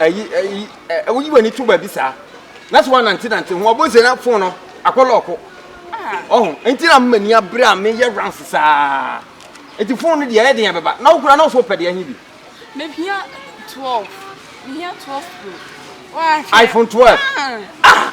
Ayi ayi ɛ eh, woyi w'ani to baabi saa na sɛ woanantenante ho ɔbɔ se na fon no akɔ lɔɔko ɔho ah. nti na m'ani abere a meyɛ rounds saa nti fon no deɛ ɛyɛ den ɛbɛba na wokora na ɔsɛ wopɛ deɛ he bi mehia 12 mehia 12 pro iphone 12 ah. ah.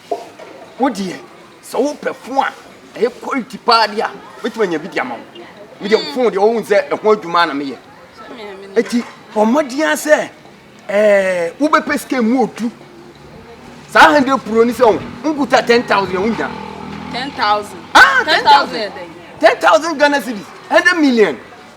Wo deɛ sɛ wo pɛ phone a ɛyɛ quality paa deɛ a mɛtumi anya bi de ama wo me deɛ hmm. phone deɛ wohu sɛ ɛho adwuma na meyɛ ɛti bɔ mmɔden a sɛ ɛɛ wobɛpɛ sika mu odu saa hundred pro ni sɛ wo nkuta ten thousand ɛho nya ten thousand ah ten thousand ten thousand ghana cedis hundred million.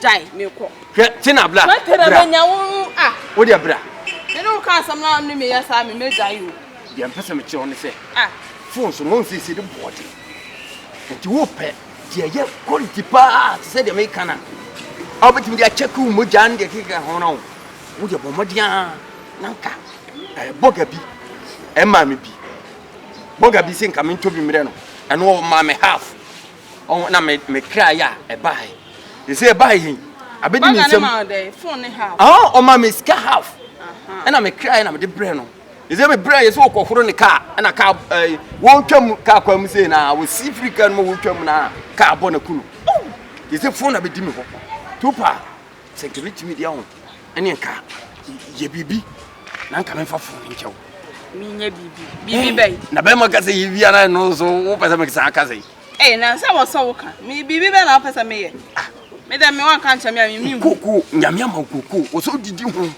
gyae mekɔ. Hwɛ Tina bra bra. Tina menya wo ah. Wo deɛ bra. Me ne wo ka asɛm na ne meyɛ saa me mɛgyae o. Deɛ mpɛ sɛ mekyerɛ wo ne sɛ. Ah. Phone so no nsiesie de bɔɔ de. Nti wo pɛ deɛ ɛyɛ quality paa te sɛ deɛ meka no a wobɛtumi de akyɛke wo mogya ne deɛ keka ho no wo. Wo deɛ bɔ mmɔden ara na nka eh, bɔga bi ɛmaa me bi. Bɔga bi sɛ nka mentɔ bi mmerɛ no ɛno ɔmaa me half. Ɔho na me me kra yɛ a ɛbae. Ɛsɛ ɛbae yi. Abɛdi me nsam. Ɔho ɔma me sika half. Ɛna me kra yɛ na mede brɛ no. Ɛsɛ me brɛ yɛ sɛ ɔkɔhoro ne kaa. Ɛna kaa ɛɛ wɔretwa mu kaa kwan mu sei na wɔsi firi kaa no mu wɔretwa mu na kaa bɔ na ku no. Ɛsɛ fon na bɛdi me hɔ. Tupa. Sɛ nka metumi de aho ɛne nka yɛ biribi na nka memfa fo no nkyɛw menyɛ biribi biribi eh, bɛyi na bɛrima ka sɛ yɛbia na ɛno nso wopɛ sɛ mekesa aka sɛ ɛyɛ eh, na sɛ wɔsɔ wo ka biribi bɛ na wopɛ sɛ meyɛ ah. medɛ me wanka nkyɛ me a memehu koko nyame ama wo koko wɔ sɛ wodidi ho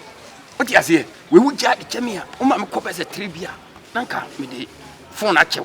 wote aseɛ wei wogya de kyɛ me a woma mekɔ bɛ sɛ tere bi a na nka mede fon akyɛw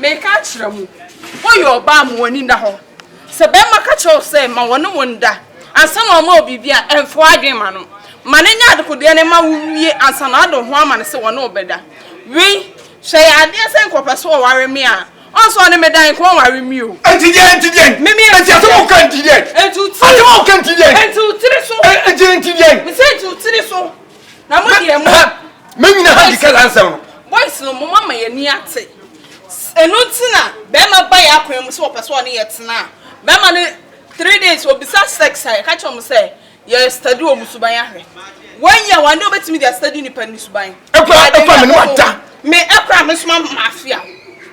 Mereka akyerɛ mo, woyɛ ɔbaa ma w'ani nna hɔ. Sɛ barima ka kyerɛ wo sɛ ma wɔne wo nda ansa na wama wo biribi a, mfa w'adwene ma no. Ma no nyɛ adekodeɛ no ma wowie ansa na wode wo ho ama no sɛ wɔne wo bɛda. Wei, hwɛ, yɛ adeɛ sɛ nka ɔpɛ sɛ ɔware me a, ɔnsɛ ɔne me da, nka ɔnware me o. Enti deɛn? Enti deɛn? Me, me, enti deɛn? Enti asɛm a woka enti deɛn? Enti wo tiri so. Asɛm a woka enti deɛn? Enti wo tiri so. Enti, enti deɛn? Mese enti wo tiri so. na mo deɛ mo me nyina ha di kasa nsɛm no boys no mo mama yɛ ni ate ɛno nti na bɛrima ba yɛ akwan mu sɛ wɔpɛ sɛ ɔne yɛ tena a bɛrima no three days obisa sex a yɛka kyerɛ mo sɛ yɛ study wɔ mo suban ahwɛ wɔyi a wɔn de wɔbɛtumi de study nipa ne suban ɛkura ɛkura me ne wada me ɛkura me soma mafia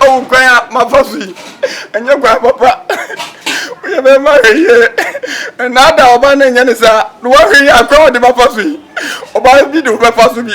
Awo kwan a mafa so yi, ɛnyɛ kwan papa. Woyɛ bɛrima hwɛ yie. Nnaada ɔbaa no nyɛ ne saa. Na woahwɛ yie a, kwan a ɔde bɛfa so yi, ɔbaa bi de wobɛfa so bi.